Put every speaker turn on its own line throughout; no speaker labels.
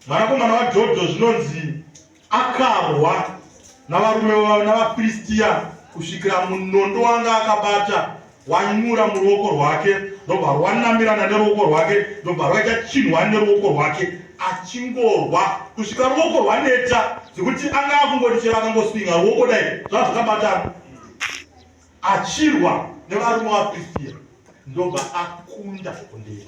mwanakomana waJodho zvinonzi akarwa navarume vavo navaFiristiya kusvikira munondo wanga akabata wanyura muruoko rwake ndobva rwanamirana neruoko rwake ndobva rwaita chinhwani neruoko rwake achingorwa kusvika ruoko rwaneta zvekuti anga akungoti chero akangoswinga ruoko dai zvazvakabatana achirwa nevarume vaFiristiya ndobva akunda kundei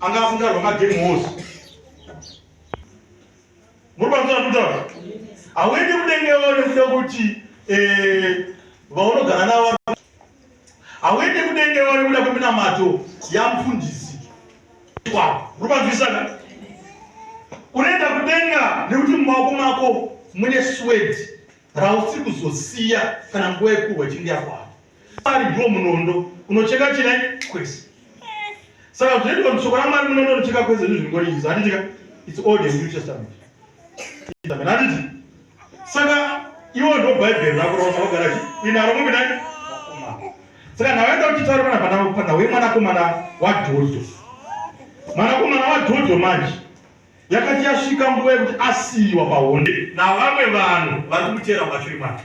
anga afunda rwamagame hose muri panzira kutaura hauendi kudenge vane kuda kuti eh, vaunogara navo hauendi kudenge vane kuda kweminamato yamufundisi kwavo muri panzwisana unoenda kudenga nekuti mumaoko mako mune swedi rausiri kuzosiya kana nguva yekuhwa chinge yakwana Ari ndiwo munondo unocheka china kwese. Saka zvoitwa kuti shoko raMwari munondo unocheka kwese izvi zvingori izvi handitika it's old and new testament. Handiti? Saka iwo ndo bhaibheri rako raunogara inaro mumbi nani saka ndavaenda kuchitaura pana pana pana wemwanakomana wadhodho mwanakomana wadhodho manje yakati yasvika nguva yekuti asiyiwa pahonde navamwe vanhu vari kumutera mashuri make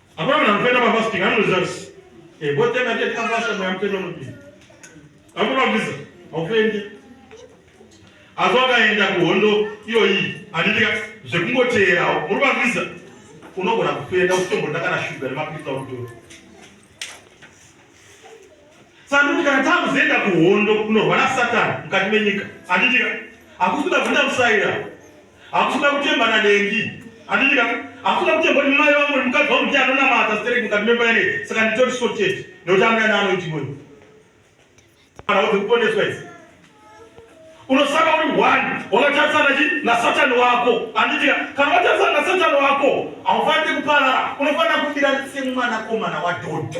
Hapana anopenda mafasting anozviziva kuti eh, botenga tete kafasha mweya mutenda unopinda. Akunovisa haupende. Asi wakaenda kuhondo iyoyi handitika zvekungoteerawo muri mavisa unogona kupenda usitomboda kana shuga nemapirisa unotora. Sanduti kana takuzoenda kuhondo kunorwa na Satani mukati menyika handitika hakusina kuenda musaira Hakuna kutemba na Nengi. Andika hakuna kutemba ni mai wangu mukadzi wangu ndiye anonamata stereki mukati memba ere saka nditori sorted nekuti amwe ana anoiti mweyo. Kana kuti kuponeswa idzi. Unosaka uri one wakatarisana chi na Satan wako. Andika kana watarisana na Satan wako haufaniri kuparara unofanira kufira semwana komana wa Doddo.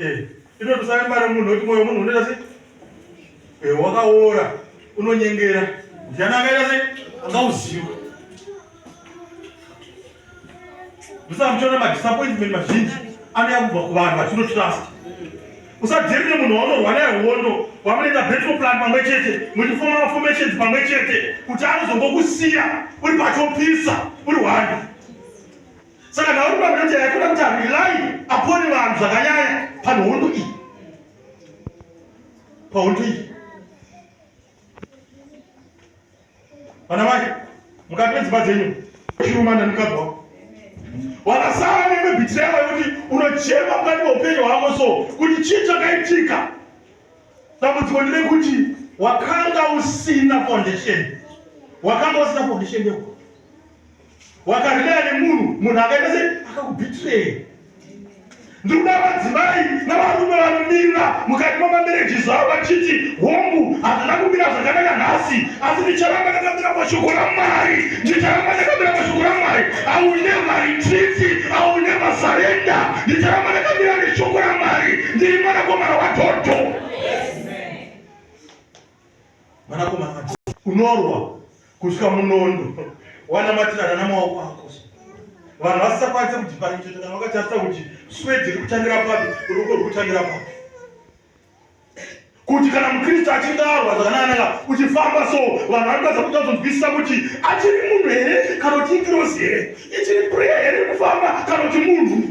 Eh, ino tusayambara munhu wekuti moyo munhu unoita sei eh, wakaora unonyengera mujana akaita sei angauziwa musamuchiona madisappointment mazhinji anouya kubva kuvanhu vatinotrust usadherire munhu waunorwa naye hondo wamunoita battle plan pamwe chete muchifoma maformations pamwe chete kuti anozongokusiya uri patopisa uri hwani saka nauri pamanaja yakuda kuti arilai apone vanhu zvakanyanya panhondo iyi pahondo iyi vana mai mukati medzimba dzenyu chirumana mukabva wakasara neme bhitireva yekuti unochema mukati meupenyu hwako so kuti chii chakaitika dambudziko ndire kuti wakanga usina foundation wakanga usina foundation yeuko wakarida nemunhu munhu akaita sei akakubitirei ndikuda vadzimai navarume vanomirira mukati mamamereji zvavo vachiti hongu handina kumira zvakanaka nhasi asi ndicharamba ndakamira pashoko ramwari ndicharamba ndakamira pashoko ramwari aunevarititi aunevasarenda ndicharamba ndakamira neshoko ramwari ndiri mwanakomana wadhodho mwanakomana unorwa kusvika munondo wanamatirana namaoko ako vanhu vasisakwanise kudhiparincheta kana vakatarisa kuti swedi ri kutangira papi ruko ruri kutangira papi kuti kana mukristu achinge arwa zvakananaka uchifamba so vanhu vanokwanisa kuita kuzonzwisisa kuti achiri munhu here kana kuti ikirosi here ichiri preya here kufamba kana kuti munhu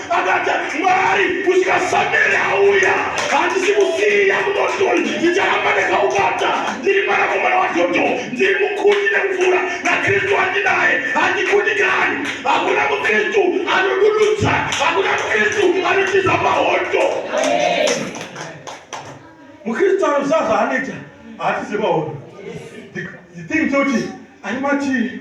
akati mwari kusvika samere auya handisi kusiya kudodol ndicharamba ndakaubata ndiri mwanakomana wadhodho ndiri mukuti nekupfuura nakristu andinaye handikudikani hakuna mukristu anodududza hakuna mukristu anotiza mahondo mukristu anozaza anoita haatize mahondo the thing toti ari matii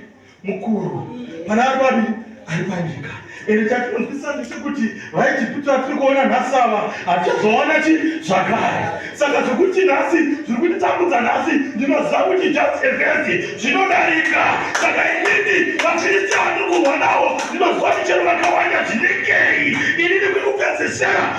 mukuru pana ari babi ari panyika ende chatinonzwisisa ndechekuti vaijipita vatiri kuona nhasi ava hatichazoona chi zvakare saka zvekuti nhasi zviri kutitambudza nhasi ndinoziva kuti just evhesi zvinodarika saka inini vafiristi vatiri kurwa navo ndinoziva michero vakawanda zvinengei inini kuri kupedzesera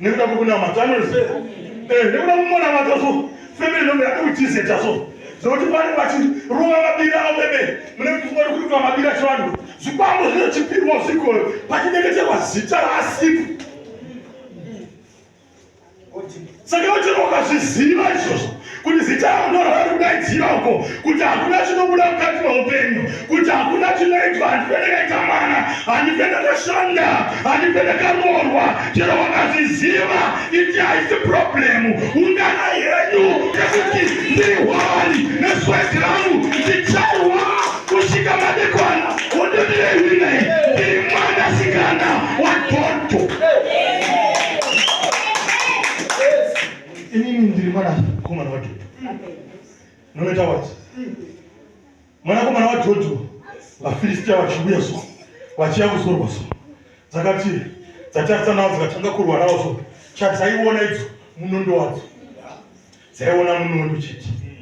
nekuda kwekunamata anonse eh, nekuda kumona matoso femeni nombe akuitizeta so zvokuti vanhu vachirova mabira avo vemene mune kuti vari kuitwa mabira chivanhu zvikwambo zvinochipirwa zvikoyo pachinyengeterwa zita raasipi saka vachirokazviziva izvozvo kuti zita rako ndorwari kudaidzira uko kuti hakuna chinobuda mukati meupenyu kuti hakuna chinoitwa handife ndakaita mwana handife ndakashanda handife ndakaroorwa chero wakazviziva iti haisi problemu ungana yenyu yekuti ndiri hwari nesweti rangu ndicharwa kusvika madekwana wondotirehinai ndiri mwana sikana wagonto Inini ndiri mwana komana wa Dhodho. Noita wati. Mwana komana wa Dhodho vaFilistia vachiuya so vachiya kuzorwa so. Dzakati dzatasa nawo dzikatanga kurwa nawo so. Chadzaiona idzo munondo wadzo. Dzaiona munondo chete.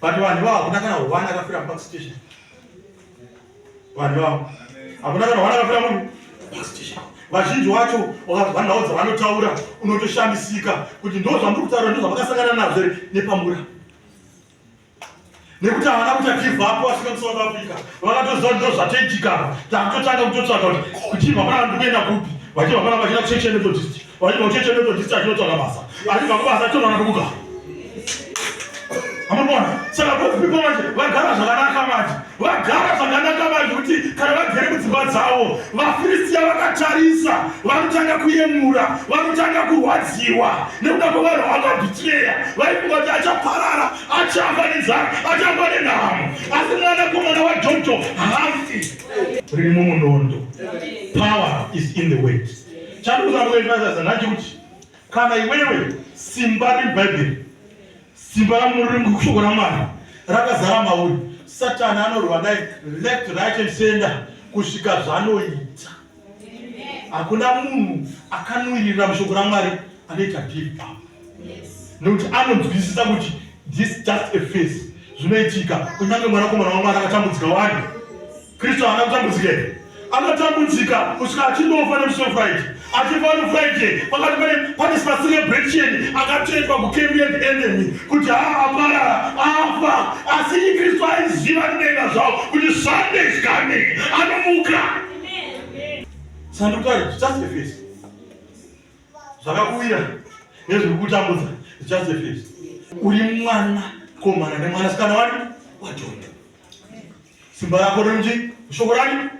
But vanhu ivavo hakuna kana one akafira mupark station. Vanhu ivavo hakuna kana one akafira munhu mupark station. Vazhinji wacho wakazwa nhau dzavanotaura unotoshamisika kuti ndo zvamuri kutaura ndo zvavakasangana nazvo here nepamura nekuti havana kuita give up vasvika musouth africa vakatoziva ndo zvatoitikana takutotanga kutotsvaga kuti kuchibva pana vanhu kuenda kupi vachibva pana vachida kuchechene todistic Vaiti ocheche ndoto dzicha chinotsvaga basa. Asi baba basa tinoona kubuka. Amabona, saka both people manje vagara zvakanaka manje. Vagara zvakanaka manje kuti kana vagere mudzimba dzavo, vaFilistia vakatarisa, vanotanga kuyemura, vanotanga kurwadziwa nekuda kwevanhu vakabitireya. Vaifunga kuti achaparara, achafa nenzara, achafa nenhamo. Asi mwana komana waJojo hafi. Riri mumunondo. Power is in the weight. Chandinoda kuendesa zanacho kuti kana iwewe simba reBhaibheri, simba ramurungu kushoko raMwari rakazara mauri, Satani anorwa naye left right and center kusvika zvanoita. Hakuna munhu akanwirira mushoko raMwari anoita deal pamba nekuti anonzwisisa kuti this just a face zvinoitika kunyange mwanakomana wamwari akatambudzika wani Kristu haana kutambudzika here? Anotambudzika kusvika achindofa nemusi weFriday. Achifa neFriday pakati pane pane celebration akatoitwa kuKembian enemy kuti haa aparara afa asi Kristu aiziva kudenga zvawo kuti Sunday is coming anomuka. Sandukari just a face. Zvakakuwira nezviri kutambudza just a face. Uri mwana komana nemwana sikana wani waJondo. Simba rako rinji shoko rani.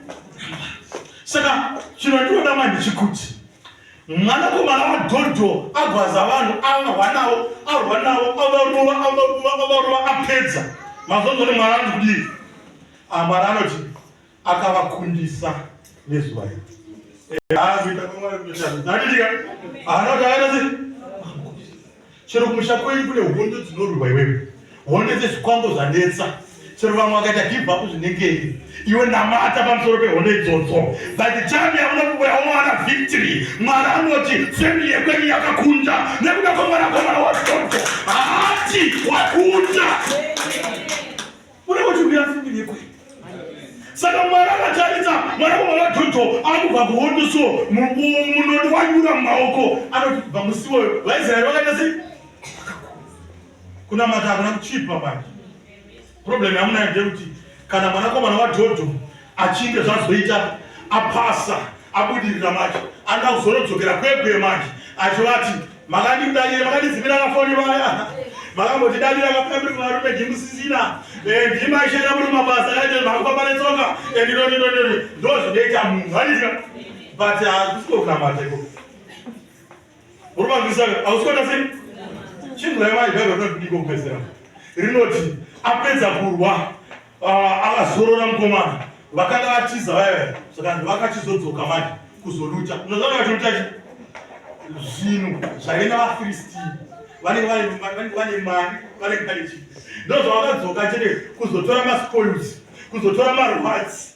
Saka chino ndinoda manje chikuti mwanakomana wadhodho agwaza vanhu avarwa navo arwa navo avarova avarova avarova apedza mazonzo ne mwari anoti kudii amwari ah, anoti akavakundisa nezuva iri eh, haana kuti akaita sei chero kumusha kwenyu kune hondo dzinorwiwa iwewe hondo dzezvikwambo zvanetsa chero vamwe vakaita gibva kuzvinengei iwe namata pamusoro pehondo idzodzo but chami yaona kubuya omwana victory mwari anoti femi yekwenyu yakakunda nekuda kwemwana kwemwana wadzodzo haati wakunda Mune kuti mira fimbi nekwete. Saka mwari akataridza mwana wamwana waJojo akubva kuhondo so munodi wanyura mumaoko anoti kubva musi woyo vaIsraeri vakaita sei? Kunamata hakuna kuchipa manje. Problem yamunayo ndeyekuti kana mwanakomana waJojo achinge zvazoita apasa abudirira manje anga kuzorodzokera kwekwe manje achivati makandidadira makandizimira kafoni vaya makambotidadira kapambiri kuvarume ndimusisina eh, ndimaishera muri mabasa kaite makufamba netsoka ndinoninonono eh, ndozvinoita munhu aizika but hakusikonamataiko Murume anzwisa ausikuona sei? Chinhu raimai Bible rinoti kudiko kupedzera. Rinoti apedza kurwa ah, akazorora mukomana vakanga vatiza vaya saka vakachizodzoka manje kuzoluta unozvanga vacholuta chi zvinhu zvaive navafiristi vanenge vane mari vanenge vane chi ndozvavakadzoka chete kuzotora maspoils kuzotora marwats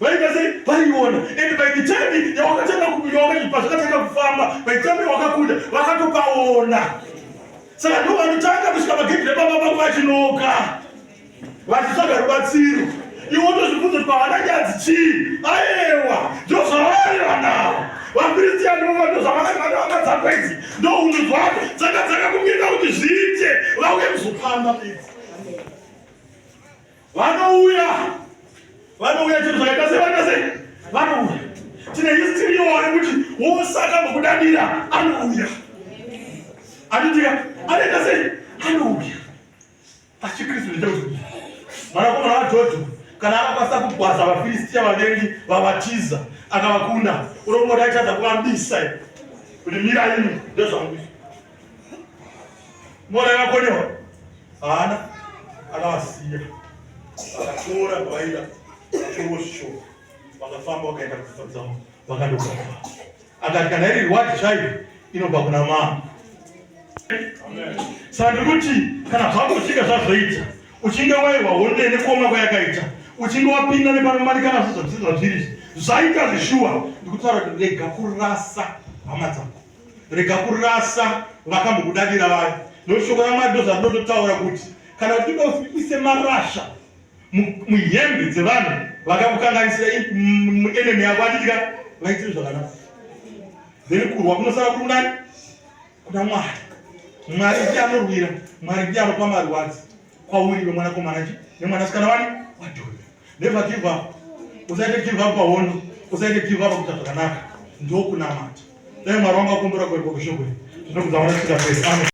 vaita sei vaiona and by the time yawakatanga pazvakatanga kufamba by the time yawakakunda vakatopaona saka ndo vanotanga kusvika magedhi rebaba vangu vachinoka vachitsvaga rubatsiro iwe wotozvibvunza kuti pavana nyadzi chii aewa ndozvavaiva nawo vakristiani vovando zvavakavakadzakwa idzi ndo hunhu dzwavo dzakadzaka kumirira kuti zviite vauye kuzopamba idzi Vanouya. Vanouya chero zvakaita sevana sei? Vanouya. Tine history yowo yekuti wosaka mukudadira anouya. Anodira anoita sei? Anouya. Pachikristu ndechekuti mwanakomana waJojo kana akakwanisa kugwaza vaFilistia vavengi vavatiza akavakunda unomboti aitadza kuvabisa kuti mira imi ndezvangu Mwana akakonewa haana akavasiya vakatora vaida chorosho vakafamba vakaenda kudzidza dzavo vakandogara akati kana iri rewadi chaiyo inobva kuna mama saka ndiri kuti kana zvako zvichinge zvazvoita uchinge wairwa honde nekuoma kwayakaita uchinge wapinda nepanomanikana zvozvazviri zvaita zvishuwa ndikutaura kuti rega kurasa hama dzako rega kurasa vakambokudadira vayo nokuti shoko ramwari ndozvarinototaura kuti kana uchida uise marasha muhembe dzevanhu vakakukanganisira enemy yako atitika vaitire zvakanaka then kurwa kunosara kuri kunani kuna mwari mwari ndiye anorwira mwari ndiye anopa marwadzi kwauri iwe mwanakomana chi nemwanasikana wani wadhoni never give up usaite give up pahondo usaite give up kuita zvakanaka ndokunamata dai mwari wangu akumbura kuenda kushoko iri ndinokuzaona sikaperi amen